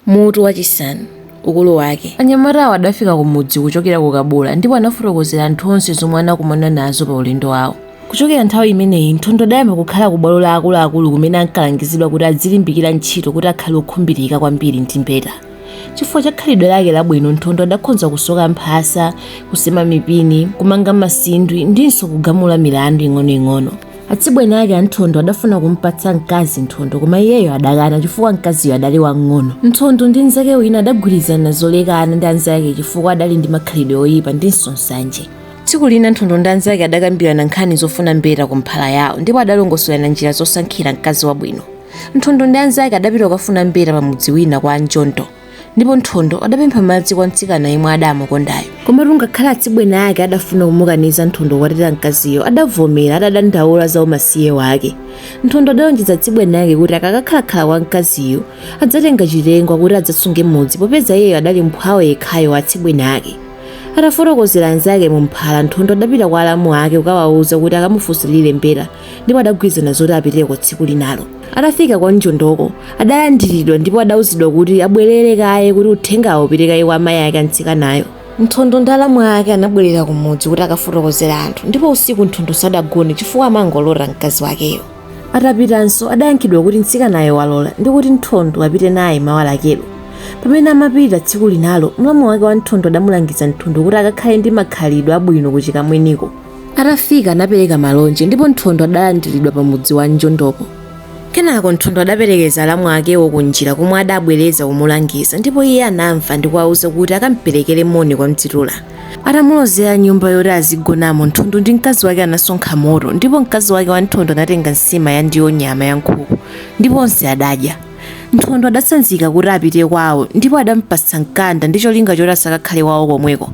Mutu wachisanu ukulu wake. Anyamatawo adafika kumudzi kuchokera ku Kabula ndipo anafotokozera anthu onse zomwe anakumana nazo paulendo wawo. Kuchokera nthawi imeneyi, Nthondo adayamba kukhala kubwalo la akuluakulu kumene ankalangizidwa kuti adzilimbikira ntchito kuti akhale wokhumbirika kwambiri ndi mbeta. Chifukwa cha khalidwe lake labwino, Nthondo adakhonza kusoka mphasa, kusema mipini, kumanga masindwi ndinso kugamula milandu ing'onoing'ono. Atsibweni ake a Nthondo adafuna kumupatsa mkazi Nthondo koma iyeyo adakana chifukwa mkaziyo adali wamng'ono. Nthondo ndi mnzake wina adagwirizana zolekana ndi anzake chifukwa adali ndi makhalidwe oyipa ndinso nsanje. Tsiku lina Nthondo ndi anzake adakambirana nkhani zofuna mbeta ku mphala yawo ndipo adalongosolana njira zosankhira mkazi wabwino. Nthondo ndi anzake adapita kukafuna mbeta pamudzi wina kwa a Njondo. ndipo nthondo adapempha madzi kwa mtsikana yemwe adamukondayo komatu ngakhale atsibweni ake adafuna kumukaniza nthondo kukwatira mkaziyo adavomera atadandaula za umasiye wake nthondo adalonjeza atsibweni ake kuti akakakhalakhala kwa mkaziyo adzatenga chitengwa kuti adzasunge mudzi popeza iyeyo adali mphwawo yekhayo wa atsibweni ake atafotokozera anzake mu mphala nthondo adapita kwa alamu ake kukawauza kuti akamufunsirire mbeta ndipo adagwirizana zoti apiteko tsiku linalo atafika kwa njondoko adalandiridwa ndipo adauzidwa kuti abwerere kaye kuti uthengawo upite kaye kwa amayi ake a mtsikanayo nthondo ndi alamu ake anabwerera kumudzi kuti akafotokozere anthu ndipo usiku nthondo sadagone chifukwa amangolota mkazi wakeyo atapitanso adayankhidwa kuti mtsikanayo walola ndi kuti nthondo apite naye mawa lakelo pamene amapita tsiku linalo mlamu wake wa nthondo adamulangiza nthondo kuti akakhale ndi makhalidwe abwino kuchikamweniko atafika anapereka malonje ndipo nthondo adalandiridwa pa mudzi wa njondopo kenako nthondo adaperekeza alamu akewo kunjira komwe adabwereza kumulangiza ndipo iye anamva ndi kuwauza kuti akamperekere moni kwa mdzitula atamulozera nyumba yoti azigonamo nthondo ndi mkazi wake anasonkha moto ndipo mkazi wake wa nthondo anatenga nsima ya ndiwo nyama ya nkhuku ndipo onse adadya nthondo adatsanzika kuti apite kwawo ndipo adampatsa mkanda ndi cholinga choti asakakhale kwawo komweko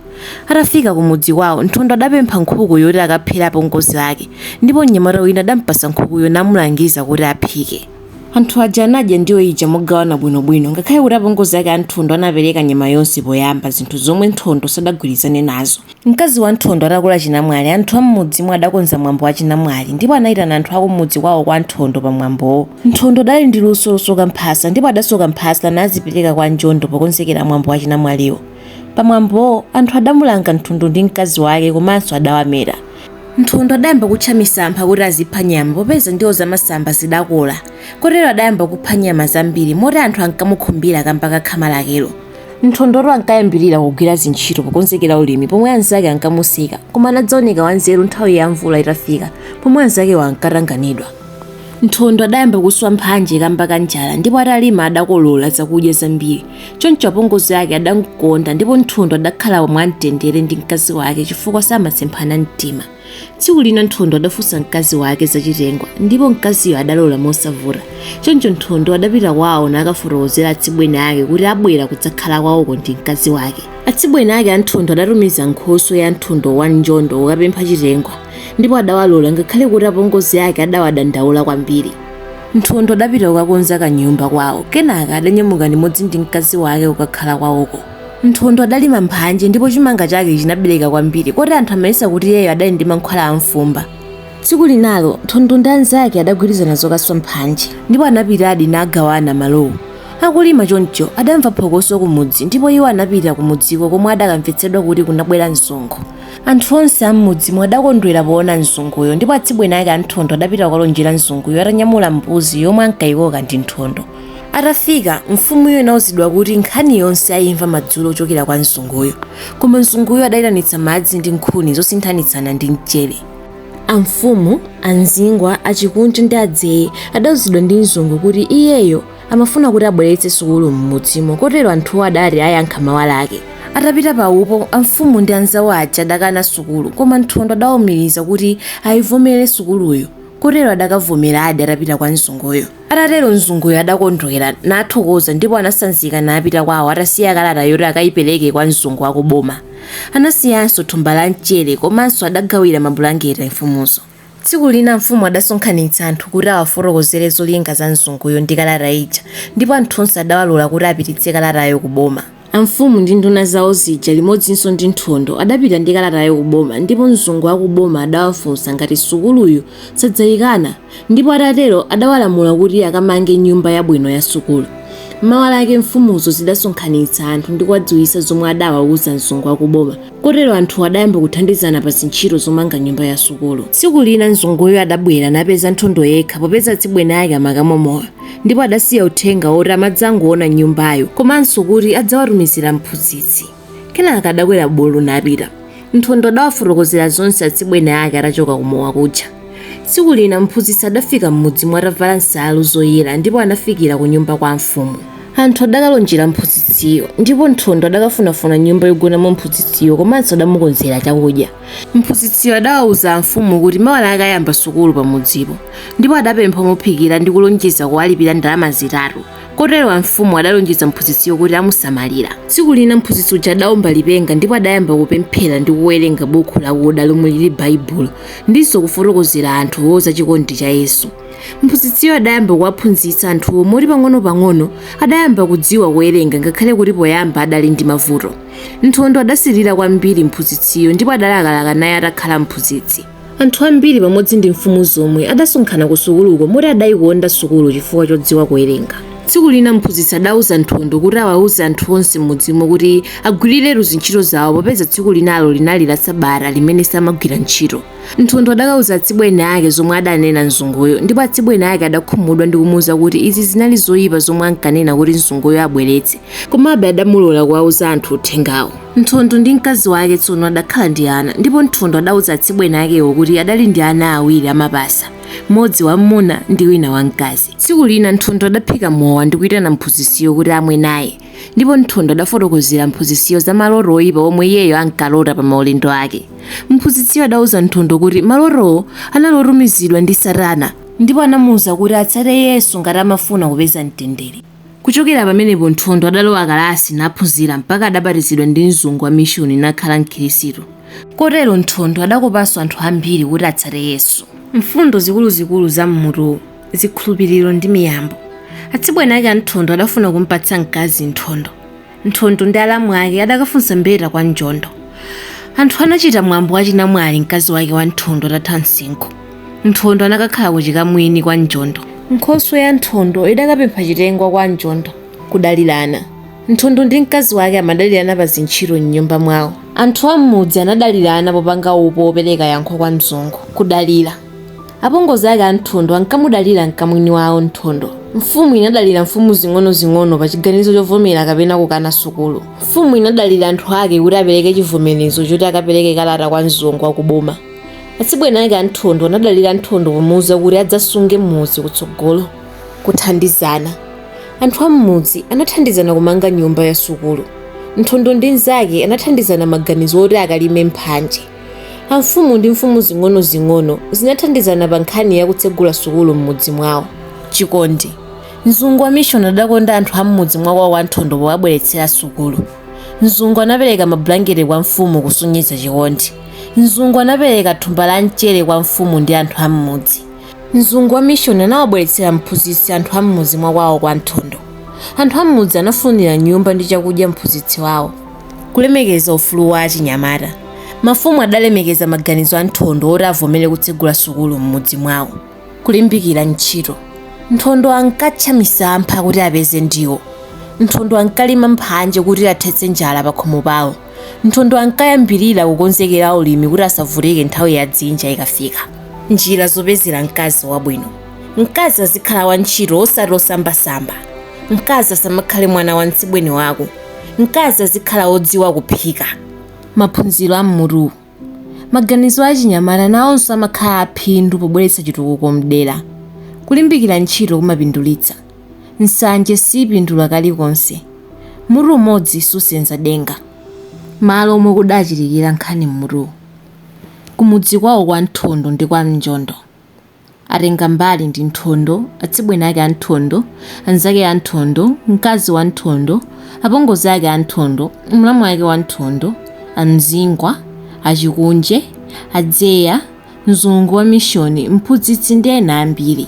Atafika kumudzi kwawo, Nthondo adapempha nkhuku yoti akaphere apongozi ake ndipo mnyamata wina adampatsa nkhukuyo namulangiza kuti aphike. Anthu aja anadya ndiwo ija mogawana bwinobwino ngakhale kuti apongozi ake a Nthondo anapereka nyama yonse poyamba, zinthu zomwe Nthondo sadagwirizane nazo. Mkazi wa Nthondo atakula chinamwali, anthu a m'mudzimo adakonza mwambo wa chinamwali ndipo anaitana anthu a kumudzi kwawo kwa Nthondo pamwambowo. Nthondo adali ndi luso losoka mphasa ndipo adasoka mphasa nazipereka kwa Njondo pokonzekera mwambo wa chinamwaliwo. Pamwambowo, anthu adamulanga Nthondo ndi mkazi wake komanso adawameta. Nthondo adayamba kutcha misampha kuti azipha nyama popeza ndiwo zamasamba zidakola kotero adayamba kupha nyama zambiri moti anthu ankamukhumbira kamba ka khama lakelo. Nthondotu ankayambirira kugwira zintchito pokonzekera ulimi pomwe anzake ankamuseka koma anadzaoneka wanzeru nthawi ya mvula itafika pomwe anzakewo ankatanganidwa. Nthondo adayamba kuswa mphanje kamba ka njala ndipo atalima adakolola zakudya zambiri. choncho apongozi ake adamkonda ndipo nthondo adakhala mwamtendere ndi mkazi wake chifukwa samasemphana mtima tsiku lina nthondo adafunsa mkazi wake zachitengwa ndipo mkaziyo adalola mosavuta choncho nthondo adapita kwawo nakafotokozera atsibweni ake kuti abwera kudzakhala kwawoko ndi mkazi wake atsibweni ake a nthondo adatumiza nkhoswe ya nthondo wa njondo kukapempha chitengwa ndipo adawalola ngakhale kuti apongozi ake adawadandaula kwambiri Nthondo adapita kukakonza kanyumba kwawo kenaka adanyamuka limodzi ndi mkazi wake kukakhala kwawoko. Nthondo adalima mphanje ndipo chimanga chake chinabereka kwambiri koti anthu amayesa kuti iyeyo adali ndi mankhwala a mfumba. Tsiku linalo Nthondo ndi anzake adagwirizana zokaswa mphanje ndipo anapitadi nagawana malowo. Akulima choncho adamva phokoso kumudzi ndipo iwo anapita kumudziko komwe adakamvetsedwa kuti kunabwera msonkho. Anthu onse a m'mudzimo adakondwera poona mzunguyo ndipo atsibweni ake a Nthondo adapita kukalonjera mzunguyo atanyamula mbuzi yomwe ankaikoka ndi Nthondo. Atafika, mfumuyo inauzidwa kuti nkhani yonse aimva madzulo kuchokera kwa mzunguyo. Koma mzunguyo adaitanitsa madzi ndi nkhuni zosinthanitsana ndi mchere. Amfumu, a Mzingwa, a Chikunje ndi a Dzeye adauzidwa ndi mzungu kuti iyeyo amafuna kuti abweretse sukulu m'mudzimo kotero anthuwo adati ayankha mawa lake atapita pa upo amfumu ndi anzawo aja adakana sukulu koma nthondo adaumiriza kuti ayivomere sukuluyo kotero adakavomeradi atapita kwa mzunguyo atatero mzunguyo adakondwera nathokoza ndipo anasanzika napita kwawo atasiya kalata yoti akayipereke kwa mzungu wakuboma anasiyanso thumba la mchere komanso adagawira mabulangeti mfumuzo Tsiku lina mfumu adasonkhanitsa anthu kuti awafotokozere zolinga za mzunguyo ndi kalata ija, ndipo anthu onse adawalola kuti apititse kalatayo ku boma. Amfumu ndi nduna zawo zija limodzinso ndi Nthondo adapita ndi kalatayo ku boma, ndipo mzungu wa ku boma adawafunsa ngati sukuluyo sadzayikana, ndipo atatero adawalamula kuti akamange nyumba yabwino ya sukulu. Mawa lake mfumuzo zidasonkhanitsa anthu ndi kuwadziwitsa zomwe adawauza mzungu wa ku boma. Kotero anthuwo adayamba kuthandizana pa zintchito zomanga nyumba ya sukulu. Tsiku lina mzunguyo adabwera napeza Nthondo yekha popeza atsibweni ake amakamwa mowa ndipo adasiya uthenga woti amadzangoona nyumbayo komanso kuti adzawatumizira mphunzitsi. Kenaka adakwera bulu napita. Nthondo adawafotokozera zonse atsibweni ake atachoka ku mowa kuja. Tsiku lina mphunzitsi adafika m'mudzimo atavala nsalu zoyera ndipo anafikira ku nyumba kwa amfumu. Anthu adakalonjera mphunzitsiyo ndipo Nthondo adakafunafuna nyumba yogonamo mphunzitsiyo komanso adamukonzera chakudya. Mphunzitsiyo adawauza amfumu kuti mawa lake ayamba sukulu pamudzipo ndipo adapempha omuphikira ndi kulonjeza kuwalipira ndalama zitatu. kotero amfumu adalonjeza mphunzitsiyo kuti amusamalira tsiku lina mphunzitsi uja adaomba lipenga ndipo adayamba kupemphera ndi kuwerenga bukhu lakuda lomwe lili baibulo ndinso kufotokozera anthuwo za chikondi cha yesu mphunzitsiyo adayamba kuwaphunzitsa anthuwo moti pang'ono-pang'ono adayamba kudziwa kuwerenga ngakhale kuti poyamba adali ndi mavuto nthondo adasilira kwambiri mphunzitsiyo ndipo adalakalaka naye atakhala mphunzitsi Anthu ambiri pamodzi ndi mfumu zomwe adasonkhana kusukuluko moti adaikonda sukulu chifukwa chodziwa kuwerenga. Tsiku lina mphunzitsi adauza Nthondo kuti awauze anthu onse m'mudzimo kuti agwiriretu ntchito zawo popeza tsiku linalo linali la Sabata limene samagwira ntchito. Nthondo adakauza atsibweni ake zomwe adanena mzunguyo ndipo atsibweni ake adakhumudwa ndi kumuuza kuti izi zinali zoipa zomwe ankanena kuti mzunguyo abweretse, komabe adamulola kuwauza anthu uthengawo. Nthondo ndi mkazi wake tsono adakhala ndi ana, ndipo Nthondo adauza atsibweni akewo kuti adali ndi ana awiri amapasa, mmodzi wam'muna ndi wina wamkazi. Tsiku lina Nthondo adaphika mowa ndi kuitana mphunzitsiyo kuti amwe naye, ndipo Nthondo adafotokozera mphunzitsiyo za maloto oipa omwe iyeyo ankalota pa maulendo ake. Mphunzitsiyo adauza Nthondo kuti malotowo anali otumizidwa ndi Satana, ndipo anamuuza kuti atsate Yesu ngati amafuna kupeza mtendere. Kuchokera pamenepo Nthondo adalowa kalasi naphunzira mpaka adabatizidwa ndi mzungu wa mishuni nakhala mkhirisitu. Kotero Nthondo adakopanso anthu ambiri kuti atsate Yesu. Mfundo zikuluzikulu za m'mutuwu, Zikhulupiriro ndi miyambo. Atsibweni ake a Nthondo adafuna kumpatsa mkazi Nthondo. Nthondo ndi alamu ake adakafunsa mbeta kwa Njondo. Anthu anachita mwambo wa chinamwali mkazi wake wa Nthondo atatha msinkhu. Nthondo anakakhala ku chikamwini kwa Njondo. Nkhoswe ya Nthondo idakapempha chitengwa kwa Njondo. Kudalirana. Nthondo ndi mkazi wake amadalirana pa zintchito m'nyumba mwawo. Anthu a m'mudzi anadalirana popanga upo wopereka yankho kwa mzungu. Kudalira. Apongozi ake a Nthondo ankamudalira mkamwini wawo Nthondo. Mfumu inadalira mfumu zing'onozing'ono pa chiganizo chovomera kapena kukana sukulu. Mfumu inadalira anthu ake kuti apereke chivomerezo choti akapereke kalata kwa mzungu wa kuboma. Atsibweni ake a Nthondo anadalira Nthondo pomuuza kuti adzasunge mudzi kutsogolo. Kuthandizana. Anthu a m'mudzi anathandizana kumanga nyumba ya sukulu. Nthondo ndi mnzake anathandizana maganizo oti akalime mphanje. Amfumu ndi mfumu zing'onozing'ono zinathandizana pa nkhani ya kutsegula sukulu m'mudzi mwawo. Chikondi. Mzungu wa mishoni adakonda anthu a m'mudzi mwa kwawo kwa Nthondo powabweretsera sukulu. Mzungu anapereka mabulangete kwa mfumu kusonyeza chikondi. Mzungu anapereka thumba la mchere kwa mfumu ndi anthu a m'mudzi. Mzungu wa mishoni anawabweretsera mphunzitsi anthu a m'mudzi mwa kwawo kwa Nthondo. Anthu a m'mudzi anafunira nyumba ndi chakudya mphunzitsi wawo. Kulemekeza ufulu wa achinyamata. Mafumu adalemekeza maganizo a Nthondo oti avomere kutsegula sukulu m'mudzi mwawo. Kulimbikira ntchito. Nthondo ankatcha misampha kuti apeze ndiwo. Nthondo ankalima mphanje kuti athetse njala pakhomo pawo. Nthondo ankayambirira kukonzekera ulimi kuti asavutike nthawi ya dzinja ikafika. Njira zopezera mkazi wabwino. Mkazi azikhala wantchito osati osambasamba. mkazi asamakhale mwana wa mtsibweni wako mkazi azikhala wodziwa kuphika maphunziro a mmutuwu maganizo a achinyamata nawonso amakhala aphindu pobweretsa chitukuko mdera kulimbikira ntchito kumapindulitsa nsanje siipindula kalikonse mutu umodzi susenza denga malo omwe kudachitikira nkhani mmutuwu kumudzi kwawo kwa nthondo ndi kwa mnjondo Atengambali ndi Nthondo, atsibweni ake a Nthondo, anzake a Nthondo, mkazi wa Nthondo, apongozi ake a Nthondo, mlamu wake wa Nthondo, a Mzingwa, a Chikunje, a Dzeya, mzungu wa mishoni, mphunzitsi ndi ena ambiri.